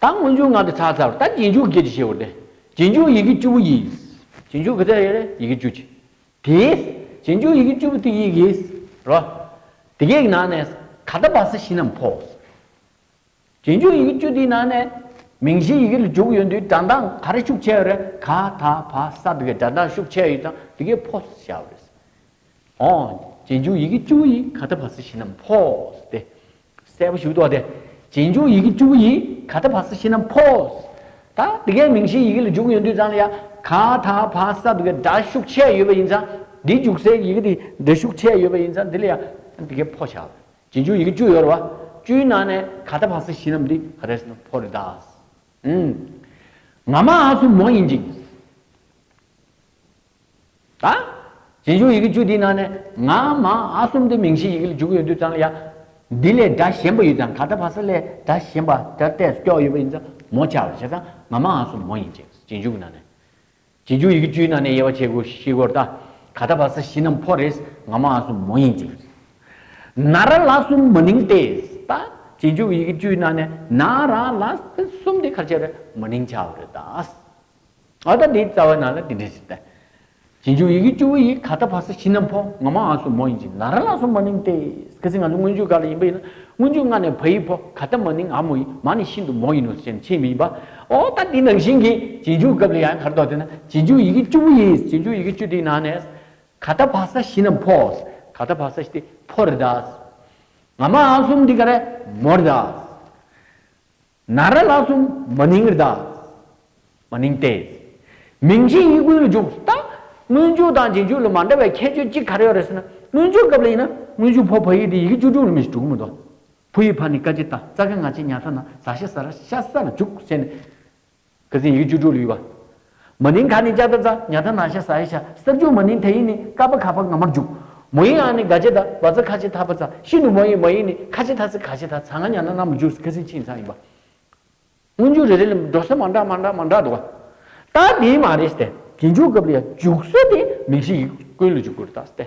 ད་སྔོན་འཇུག་ངག་གི་ཚ་ཚ་བར་ད་རྗེས་འཇུག་བརྒྱད་ཀྱི་ཞེས་བོ་སྟེ། རྗེས་འཇུག་ཡི་གེ་བཅུ་བོ་ཡིས། རྗེས་འཇུག་གི་ཚ་ཡི་ཡི་གེ་བཅུ་གཅིག་དེས། རྗེས་འཇུག་ཡི་གེ་བཅུ་བོ་དེ་ཡི་གེས། རོ། དེ་གའི་ནང་ནས། ཁ་ད་བ་ས་གཞི་རྣམས་ཕོ། རྗེས་འཇུག་ཡི་གེ་བཅུ་དེའི་ནང་ནས། མིང་གཞིའི་ཡི་གེ་ལ་འཇུག་ཡོད་དུས་སྒྲ་མདངས་ག་རེ་ཤུགས་ཆེ་བ་རེད་ཁ་ད་བ་ས་དེ་གའི་སྒྲ་མདངས་ཤུགས་ཆེ་ཡོད་ཙང་དེ་གའི་ཕོ་ཞེས་བྱ་བ་རེད། ཨོ། རྗེས་འཇུག་ཡི་གེ་བཅུ་བོ་ཡིས་ཁ་ད་བ་ས་གཞི་རྣམས་ཕོ། སྟེ། གསལ་པོ་ཞུ་དོགས་ཏེ། རྗེས་འཇུག་ཡི་གེ་བཅུ་པོ་ཡིས་ག་ད་བྷ་ས་ཤི་ནམ་ཕོ། ད་ལྟ་གའི་མིང་གཞིའི་ཡི་གེ་ལ་འཇུག་ཡོད་དུས་ཙང་ལ་ཡ། ག་ད་བྷ་ས་ད་གའི་སྒྲ་ཤུགས་ཆད་ཡོད་པ་ཡིན་ཙང། འདིའི་འཇུག་སའི་ཡི་གེ་དེ་སྒྲ་ཤུགས་ཆད་ཡོད་པ་ཡིན་ཙང་འདི་ལ་ཡ། ད་གའི་ཕོ་བྱ། རྗེས་འཇུག་ཡི་གེ་བཅུ་ཡོད་རེད་བ། བཅུའི་ནང་ནས་ག་ད་བྷ་ས་ཤི་ནམ་དེ་ག་རེད་ཟེར་ན་ཕོ་རེད་ད། ཨིན། ང་མ་ཨ་སུ་མོ་ཡིན་ཅིང། ད། གཞན་བྱུང་ཡི་གེ་བཅུ་དེའི་ནང་ནས་ང་མ་ཨ་གསུམ་དེ་མིང་གཞི་ཡི་གེ་ལ་འཇུག་ཡོད་དུས་ཙང་ལ་ཡ། འདི་ལས་སྒྲ་གཞན་པ་ཡོད་ཙང་ག་ད་བ་ས་ལས་སྒྲ་གཞན་པ་སྒྲ་གཏད་སུ་སྐྱོགས་ཡོད་པ་ཡིན་ཙང་མོ་བྱ་བར་བྱས་ཙང་ང་མ་ཨ་གསུམ་མོ་ཡིན་ཅེས་གཞན་བྱུང་གི་ནང་ནས། གཞན་བྱུང་ཡི་གེ་བཅུའི་ནང་ནས་དབྱེ་བ་ཕྱེད་གོ་ཤི་གོ་ད། ག་ད་བ་ས་བཞི་རྣམས་ཕོ་རེད་ང་མ་ཨ་གསུམ་མོ་ཡིན་ཅེས། ན་ར་ལ་གསུམ་མ་ནིང་ཏེ་ད། གཞན་བྱུང་ཡི་གེ་བཅུའི་ནང་ནས་ན་ར་ལ་གསུམ་དེ་གར་བྱས་པས་མ་ནིང་བྱ་བ་རེད་ད། ཨ་ད་དེའི་རྩ་བའི་ནང་ལ་དེ་འདྲི་ཟིན་ཏེ། རྗེས་འཇུག་ཡི་གེ་བཅུ་བོ་ཡིས་ག་ད་བྷ་སི་ཤི་ནམ་ཕོ་ང་མ་ཨ་སུ་མོ་ཡིན་ཅིང་ན་ར་ལ་སོ་མ་ནིང་ཏེ། གལ་སྲིད་ང་ཚོ་སྔོན་འཇུག་ག་ལ་ཡིན་པ་ཡིན་ན་སྔོན་འཇུག་ང་ནས་བྷ་ཡི་ཕོ་ག་ད་མ་ནིང་ཨ་མོ་ཡིན་མ་ནི་ཤིན་ཏུ་མོ་ཡིན་ནོ་ཞེས་ནི་ཕྱིའི་མིང་པ། ཨོ་ད་དེ་ནང་བཞིན་གྱི་རྗེས་འཇུག་སྐབས་ལ་ཡང་གར་དོགས་ཏེ་ན་རྗེས་འཇུག་ཡི་གེ་བཅུ་བོ་ཡིས་རྗེས་འཇུག་ཡི་གེ་བཅུ་དེའི་ནང་ནས། ག་ད་བྷ་ས་ཤི་ནམ་ཕོ་ག་ད་བྷ་ས་ཤི་དེ་ཕོ་རེད་ད། ང་མ་ཨ་སུ་མོ་དེ་ག་རེད་མོ་རེད་ད། ན་ར་ལ་སོམ་མ་ནིང་རྡ། མ་ནིང་སྟེ། མིང་གཞི་དབྱིག་གུང་ལ་འཇུག་ད། སྔོན་འཇུག་དང་རྗེས་འཇུག་ལ་མ་འདྲ་བའི་ཁྱད་ཆོས་གཅིག་ག་རེ་ཡོད་རེད་ཟེར་ན་སྔོན་འཇུག་སྐབས་ལ་ཡིན་ན་སྔོན་འཇུག་ཕོ་བ་ཡིག་དེ་ཡི་གེ་བཅུ་དྲུག་ལ་མི་ཞིག་འཇུག་གི་མི་འདུག་ཕོ་ཡིག་ཕ་ནི་ཀ་ཅི་ཏཱ་ཙཀ་ང་ཅི་ཉཱ་ཐ་ན་ཟ་ཤ་ཟ་ར་ཤ་ཟ་ལ་འཇུག་ཟེར་ནས། བཀའ་བསྲིངས་ཡུལ་བཅུ་དྲུག་ལུས་པ། མ་ནིང་ག་ནི་ལྕགས་རྟ་ཛཱ་ནྱ་ད་ན་ཤ་ཟ་ཡེ་ཤ་སྲབ་འཇུག་མ་ནིང་དྷ་ཡིག་ནི་ཀ་པ་གྷ་པ་ང་མར་འཇུག། མོ་ཡིག་ཨ་ནི་ག་ཅེ་ད་བ་ཛ་ཁ་ཅེ་དྷ་བ་ཛ་ཤི་ནུ་མོ་ཡིག་མ་ཡིག་ནི་ཁ་ཅེ་དྷ་ཛི་ག་ཅེ་དྷ་ཛ་ང་ཉ་ན་ན་མོ་འཇུག་བཀའ་བསྲིངས་ཆིངས་ཚང་ཡིན་པ། སྔོན་འཇུག་རེ་རེ་ལས་འགྲོ་ས་མ་འདྲ་མ་འདྲ་མ་འདྲ་འདུག་བ། ད་དེའི་མ་རེད་སྟེ། རྗེས་འཇུག་སྐབས་ལ་འཇུག་སྲོལ་དེ་མིང་གཞི་ཡིག་ཀུན་ལ་འཇུག་དགོས་རེད་ད་སྟེ།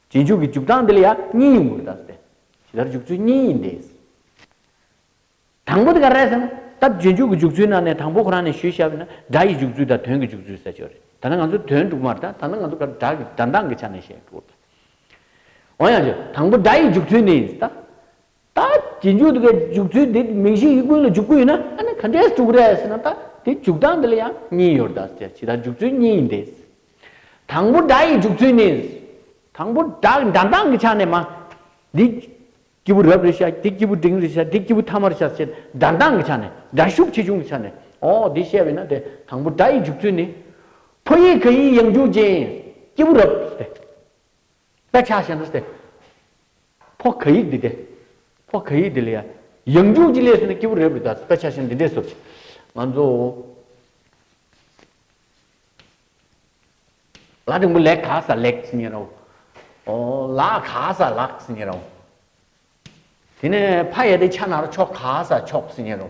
རྗེས་འཇུག་གི་འཇུག་སྟངས་འདི་ལ་ཡང་གཉིས་ཡོང་གི་རེད། ཇི་ལྟར་འཇུག་ཚུལ་གཉིས་ཡིན་ཏེ། དང་པོ་དེ་ག་རེད་ཟེར་ན། སྟབས་རྗེས་འཇུག་གི་འཇུག་ཚུལ་ནང་ནས་དང་པོ་ཁོ་རང་ནས་ཞུས་བྱ་བས་ན་སྒྲ་ཡི་འཇུག་ཚུལ་དང་དོན་གྱི་འཇུག་ཚུལ་ཟེར་ཆོག་རེད། ད་ལྟ་ང་ཚོས་དོན་དཀྲུག་མར་ད་ད་ནི་ང་ཚོ་སྒྲ་གི་སྒྲ་གདངས་ཀྱི་ཆ་ནས་བཤད་འགྲོ་གི་རེད། འོན་ཡང། དང་པོ་སྒྲ་ཡི་འཇུག་ཚུལ་ནི། ད་དེ་མཇུག་ཏུ་གས་འཇུག་ཚུལ་དེ་མིང་གཞིའི་དབྱིབས་ཀུན་ལ་འཇུག་སྐུལ་ཡིན་ན་ཨ་ནི་ག་འདྲའི་དཀྲུགས་རེད་ཟེར་ན་ད་དེ་འཇུག་སྟངས་འདི་ལ་ཡང་གཉིས་ཡོད་རེད་ད་ཇི་ལྟར་འཇུག་ཚུལ་གཉིས་ཡིན་ཏེ། དང་པོ་སྒྲ་ཡི་འཇུག་ཚུལ་ནི། དང་པོ་སྒྲ་སྒྲ་མདངས་ཀྱི་ཆ་ནས་མ། འདི། སྐྱེས་བུ་རབས་རེ་བྱ་འདི་སྐྱེས་བུ་འབྲིང་རེ་བྱ་འདི་སྐྱེས་བུ་ཐ་མར་བྱ་ཞེས་སྒྲ་མདངས་ཀྱི་ཆ་ནས་སྒྲ་ཤུགས་ཆེ་ཆུང་གི་ཆ་ནས་འོ་འདི་བཤད་པས་ན་དེ་དང་པོ་སྒྲ་ཡི་འཇུག་ཚུལ་ནི། ཕོ་ཡིག་ག་ཡིག་ཡང་འཇུག་ཅིང་སྐྱེས་བུ་རབས། དཔེ་ཆ་བཤད་ན་སྟེ། ཕོ་ག་ཡིག་འདི་སྟེ། ཕོ་ག་ཡིག་འདི་ལ་ཡང་ཡང་འཇུག་ཅིག་ལས་སུ་ན་སྐྱེས་བུ་རེ་བུ་དག་དཔེ་ཆ་བཤད་ན་འདི་འདྲས་སོ། ང་ཚོ། ལ་དྲིང་པོ་ལེགས་ག་ས་ལེགས་ཟེར་ཉེ་རོ། ཨོ་ལ་ག་ས་ལགས་ཟེར་ཉེ་རོ། དེ་ནས་ཕ་ཡ་དེ་ཆ་ན་རོ་ཆོག་ག་ས་ཆོག་ཟེར་ཉེ་རོ།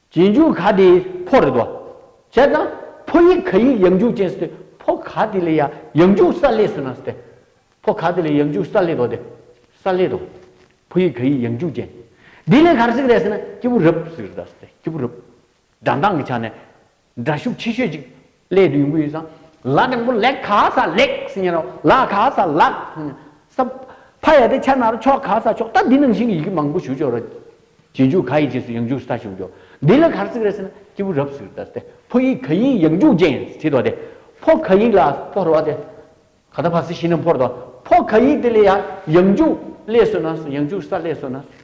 རྗེས་འཇུག་ག་དེ་ཕོ་རེད་དོ། བྱས་ཙང་ཕོ་ཡིག་ག་ཡིག་ཡང་འཇུག་ཅན་སྟེ་ཕོ་ག་དེ་ལས་ཡང་འཇུག་ས་ལས་སུ་ན་སྟེ། ཕོ་ག་དེ་ལས་ཡང་འཇུག་ས་ལས་དོ་སྟེ། ས་ལས་དོ། ཕོ་ཡིག་ག་ཡིག་ཡང་འཇུག་ཅན། དེ་ལས་གར་ཟིག་རེད་ཟེར་ན་སྐྱེས་བུ་རབ་ཟིག་རེད་ད་ཟེར་ཏེ་སྐྱེས་བུ་རབ། སྒྲ་མདངས་ཀྱི་ཆ་ནས། སྒྲ་ཤུགས་ཆེ་ཤོས་ཅིག་ལས་བདུན་པོ་ཡོད། ལ་དང་པོ་ལེགས་ག་ས་ལེགས་ཟེར་ཡིན་རོ། ལ་ག་ས་ལགས་ཟེར། ཕ་ཡ་དེ་ཕྱ་ན་རོ་ཕྱོགས་ག་ས་ཕྱོགས་ད་འདི་ནང་བཞིན་གྱི་ཡི་གེ་མང་པོ་ཞུ་ཆོག་རོ། རྗེས་འཇུག་ག་ཡི་རྗེས་སུ་ཡང་འཇུག་ས་ཞུགས་ཆོག་འདི་ལ་གར་ཚིག་རེད་ཟེར་ན་སྐྱེས་བུ་རབ་ཟེར་ཏེ། ཕོ་ཡིག་ག་ཡིག་ཡང་འཇུག་ཅན་བྱེད་དོ་སྟེ། ཕོ་ག་ཡིག་ལ་ཕོ་རོ་སྟེ། ག་ད་ཕ་སི་ཤི་ན་ཕོར་དོ། ཕོ་ག་ཡིག་དེ་ལས་ཡང་འཇུག་ལས་སོ་ན་སོ་ཡང་འཇུག་ས་ལས་སོ་ན་སོ།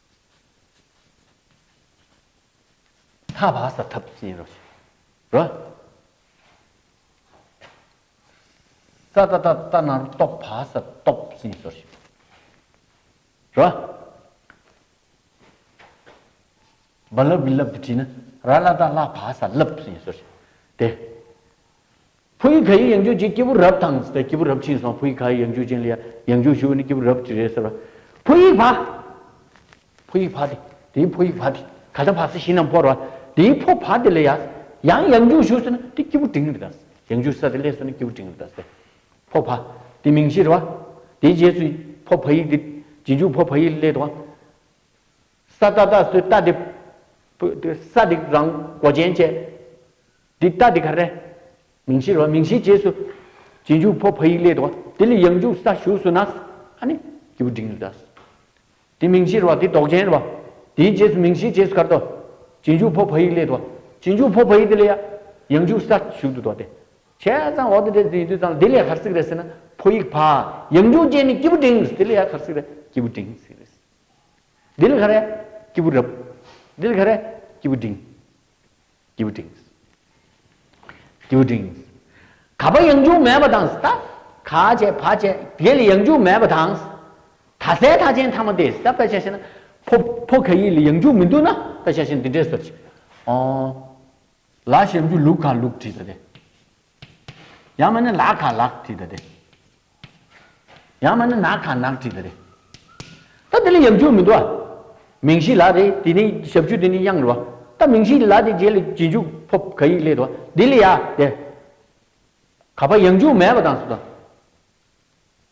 ཐ་བ་ས་ཐབས་ཅན་རོ། རོ། ས་ཏྭ་ཏྭ་ཏྭ་ནཱ་རོ་སྟོབས་བ་ས་སྟོབས་ཅན་སོ། རོ། བ་ལབ་བི་ལབ་དུ་བྲིས་ན་ར་ལ་ཏཱ་ལ་བ་ས་ལབ་ཅན་སོ། དེ། ཕོ་ཡིག་ག་ཡིག་ཡང་རྒྱུག་ཅིང་སྐྱེས་བུ་རབ་དང། སྐྱེས་བུ་རབ་ཕྱིན་སོང་ཕོ་ཡིག་ག་ཡིག་ཡང་རྒྱུག་ཅིང་ལ་ཡང་རྒྱུག་ཞུ་བ་ནི་སྐྱེས་བུ་རབ་ཀྱི་རེད་ཟེར་བ། ཕོ་ཡིག་བ། ཕོ་ཡིག་བ་དེ་དེའི་ཕོ་ཡིག་བ་དེ་ག་ལྟར་བ་སེ་ཤིང་རྣམས་བོར་བ། དེའི་ཕོ་བ་དེ་ལ་ཡ། ཡང་ཡང་རྒྱུག་ཞུ་སོང་ན་དེ་སྐྱེས་བུ་འབྲིང་རི་དྭགས། ཡང་རྒྱུག་ས་དེ་ལས་སོང་ན་སྐྱེས་བུ་འབྲིང་རི་དྭགས་ཟེར། ཕོ་བ། དེ་མིང་ཤེས་ར་བ། དེའི་རྗེས་སུ་ཕོ་བ་ཡིག་དེ། རྗེས་འཇུག་ཕོ་བ་ཡིག་ལས་དང། ས་རྟ་རྟ་སོའི་རྟ་དེ། ས་དེ་རང་མགོ་ཅན་བཅས། འདི་རྟ་འདི་ག་རེ། མིང་གཞིར་བ་མིང་གཞིའི་རྗེས་སུ། རྗེས་འཇུག་ཕོ་བྷ་ཡིག་ལས་དོ། དེ་ལས་ཡང་འཇུག་ས་བཞུགས་སུ་ན། ཨ་ནི། སྐྱེས་བུ་འབྲིང་དུ་བཟླས། དེ་མིང་གཞིར་བ་དེ་ལྡོག་ཅན་བ། དེའི་རྗེས་སུ་མིང་གཞིའི་རྗེས་སུ་གར་དོ། རྗེས་འཇུག་ཕོ་བྷ་ཡིག་ལས་དོ། རྗེས་འཇུག་ཕོ་བྷ་ཡིག་དེ་ལས། ཡང་འཇུག་ས་བཞུགས་དུ་དོ་སྟེ། བྱས་ཙང་འོག་ཏུ་འདྲེས་འཛིན་ཡིན་དུས་ཙང་ལ་དེ་ལས་གར་སིག་རེ་ཟེར་ན་ཕོ་ཡིག་བྷ། ཡང་འཇུག་ཅན་ནི་སྐྱེས་བུ་འབྲིང། དེ་ལས་ཡང་གར་སིག་རེ་སྐྱེས་བུ་འབྲིང། འདི་ལ་ཁ་རས་སྐྱིད་པོ་རབ། འདི་ལ་ཁ་རས་སྐྱིད་པོ་འབྲིང། སྐྱིད་པོ་འབྲིང། སྐྱིད་པོ་འབྲིང། ག་པ་ཡང་འཇུག་མེད་པ་དང་ད་ག་བྱས་བ་བྱས་དེ་ལ་ཡང་འཇུག་མེད་པ་དང། ད་ཟས་ཐག་ཆེན་ཐ་མ་དེ་ཟས་པད་ཤ་ཤེ་ན་ཕོ་ཕོ་ག་ཡིག་ལ་ཡང་འཇུག་མི་འདུག་ན་པད་ཤ་ཤེ་ན་འདི་འདྲས་ཟེར་ཅིག། ཨོ། ལ་ཞེས་འཇུག་ལུགས་ག་ལུགས་བྲིས་པ་དེ། ཡང་མ་ནི་ལག་ཁ་ལག་བྲིས་ད་དེ། ཡང་མ་ནི་ནག་ཁ་ནག་བྲིས་ད་རེད། ད་དེ་ལ་ཡང་འཇུག་མི་འདུག་ཨ། མིང་གཞི་ལག་རེད་དེ་ནི་ཞབས་ཆུ་དེ་ནི་དབྱངས་རེད་བ། ད་མིང་གཞི་ལག་དེ་རྗེས་ལ་ཇི་འཇུག་ཕོབ་ག་ཡིག་སླེད་བ། དེ་ལ་ཡ་དེ། ག་པ་ཡང་འཇུག་མེད་པ་དང་སུ་དང།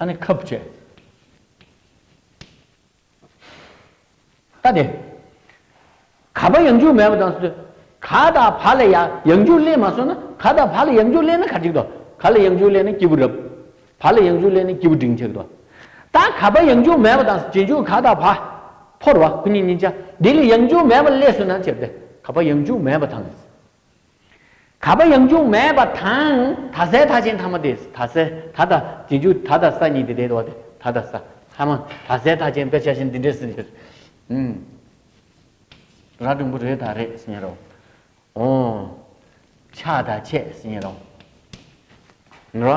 ད་ནི་ཁབ་བཅད། ལྟ་སྟེ། ག་བ་ཡང་འཇུག་མེད་པ་དང་སོ། ག་དང་བ་ལ་ཡང་འཇུག་སླད་མ་སོང་ན་ག་དང་བ་ལ་ཡང་འཇུག་སླད་ན་ག་འགྲིག་ཏོ། ག་ལ་ཡང་འཇུག་སླད་ན་སྐྱེས་བུ་རབ། བ་ལ་ཡང་འཇུག་སླད་ན་སྐྱེས་བུ་འབྲིང་ཆེ་གི་ཏོ། ད་ག་བ་ཡང་འཇུག་མེད་པ་དང་རྗེས་འཇུག་ག་དང་བ། ཕོར་བ་ཁོ་གཉིས་གཉིས་ཆ་འདི་ལ་ཡང་འཇུག་མེད་པ་སླད་སོང་ན་ཅེ་སྟེ། ག་བ་ཡང་འཇུག་མེད་པ་དང། ག་པ་ཡང་འཇུག་མེད་པ་དང་ད་ཟས་ད་ཅན་ཐ་མ་དེ་ད་ཟས་ད་ད་དེ་འཇུག་ད་ད་ས་གཉིས་དེ་དེ་དོ་དེ་ད་ད་ས་ཐ་མ་ད་ཟས་ད་ཅན་དཔེ་ཆ་བཞིན་འདི་འདྲེ་སི་འདྲེ་ཨིན། ར་སྒྲུང་པོ་རེ་ད་རེ་སི་ཉེ་རོ་ཨོ། ཆ་ད་ཆས་སི་ཉེ་རོ། ནོ།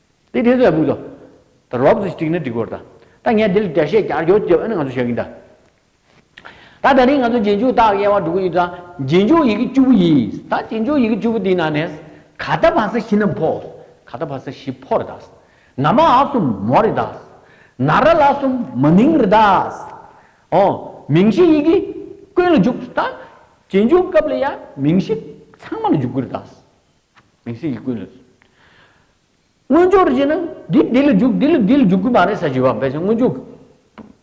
དེ་དེ་ཚོ་ལ་འབུལ་ལོ། ད་རོགས་ཚོས་བསྒྲིགས་ན་འགྲིག་གོ། ད་ངས་འདི་ལ་བརྒྱ་བཤད་བརྒྱ་སྦྱོར་བཅས་འོས་ན་ང་ཚོ་བྱ་གིན་གདའ། ད་ད་རིང་ང་ཚོ་རྗེས་འཇུག་དག་དབྱེ་བ་འགྲོ་གི་ཡོད་ཙང་རྗེས་འཇུག་ཡི་གེ་བཅུ་པོ་ཡིན། ད་རྗེས་འཇུག་ཡི་གེ་བཅུ་པོ་དེའི་ནང་ནས། ཁ་ད་བ་ས་བཞི་ནམ་ཕོ། ཁ་ད་བ་ས་བཞི་ཕོ་རེ་གདའ། ན་མ་ཨ་གསུམ་མོ་རེ་གདའ། ན་ར་ལ་གསུམ་མ་ནིང་རེ་གདའ། ཨོ། མིང་གཞི་ཡི་གེ་ཀུན་ལ་འཇུག། ད་རྗེས་འཇུག་སྐབས་ལ་ཡང་མིང་གཞི་ཚང་མ་ལ་འཇུག་དགོས་རེ་གདའ། མིང་ཚིག་གིས་ཀུན་ལ། སྔོན་འཇུག་རེད་ཅེ་ན། འདི་འདི་ལ་འཇུག་འདི་ལ་འདི་ལ་འཇུག་གི་མ་རེད་ས་བྱི་བ་འབད་ཅིང་སྔོན་འཇུག།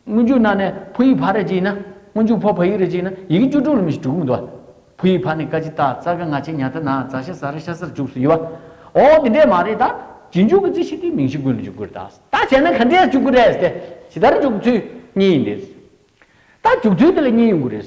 སྔོན་འཇུག་ན་ནས་ཕོ་ཡིག་ཕ་རེད་ཅེ་ན། སྔོན་འཇུག་ཕོ་ཕ་ཡིག་རེད་ཅེ་ན་ཡི་གེ་བཅུ་དྲུག་ལ་མི་ཞིག་དྲུག་མི་འདུག་ཨ། ཕོ་ཡིག་ཕ་ནི་ཀ་ཅི་ཏཱ་ཙར་ཀ་ང་ཆེ་ཉ་ཐ་ན་ཛ་ཤ་ཟ་ར་ཤ་སར་འཇུག་སུ་ཡི་བ། ཨོ་འདི་འདྲས་མ་རེད་ད། བྱི་འཇུག་གི་རྩི་ཤིག་དེ་མིང་ཤིག་ཀུན་ལ་འཇུག་གི་རེད་ད། ད་བྱས་ན་ག་འདྲས་འཇུག་གི་རེད་དེ། ཇི་ལྟར་འཇུག་གི་ཚུལ་གཉིས་ཡིན་ཏེ། ད་འཇུག་ཚུལ་དེ་ལ་གཉིས་ཡོང་གི་རེད།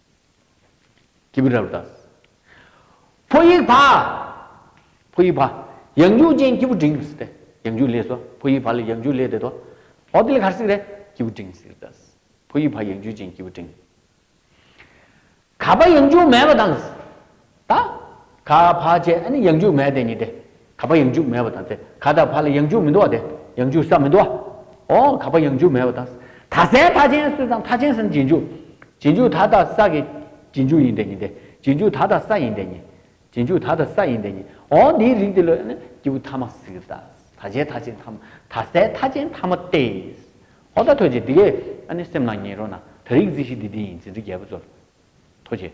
སྐྱེས་བུ་རབ་ཏུ་དགའ། ཕོ་ཡིག་བྷ། ཕོ་ཡིག་བྷ། ཡང་འཇུག་ཅིང་སྐྱེས་བུ་འབྲིང་ངེ་སྲིད་དེ། ཡང་འཇུག་ལས་སོ། ཕོ་ཡིག་བྷ་ལས་ཡང་འཇུག་ལས་འདས་དོ། འོ་དེ་ལས་གར་སྲིད་རེ། སྐྱེས་བུ་འབྲིང་སྲིད་དཱ། ཕོ་ཡིག་བྷ་ཡང་འཇུག་ཅིང་སྐྱེས་བུ་འབྲིང། ག་བྷ་ཡང་འཇུག་མེད་པ་དང། ད། ག་བྷ་ཅད་ནི་ཡང་འཇུག་མེད་དེ་ཉིད་དེ། ག་བྷ་ཡང་འཇུག་མེད་པ་དང་དེ་ག་ད་བྷ་ལ་ཡང་འཇུག་མི་འདུག་བ་དེ་ཡང་འཇུག་ས་མི་འདུག་བའོ། ག་བྷ་ཡང་འཇུག་མེད་པ་དང། ད་སའི་མཐའ་ཅན་སུ་དང་མཐའ་ཅན་སའི་རྗེས་འཇུག། རྗེས་འཇུག་ད་ད་ས་ཀྱི། རྗེས་འཇུག་ཡིན་དེ་ཉིད་དེ། རྗེས་འཇུག་ད་ད་ས་ཡིན་དེ་ཉིད། རྗེས་འཇུག་ད་ད་ས་ཡིན་དེ་ཉིད། ཨོ་འདིའི་རིགས་འདི་ལོས་ནི་སྐྱེས་བུ་ཐ་མ་ཟིག་གི། ད་བྱའི་མཐའ་ཅན་ཐ་མ། ད་སའི་མཐའ་ཅན་ཐ་མ་སྟེ། ཧོ་ད་ཐོས་ཅིག་འདི་ཀའི། སེམས་ལ་ངེས་རོ་ན། ད་རིགས་རྩི་བཞི་འདི་འདི་ཡིན་ཟིན་བྲིས་རྒྱལ་པོ་ཚོལ། ཐོས་ཅིག།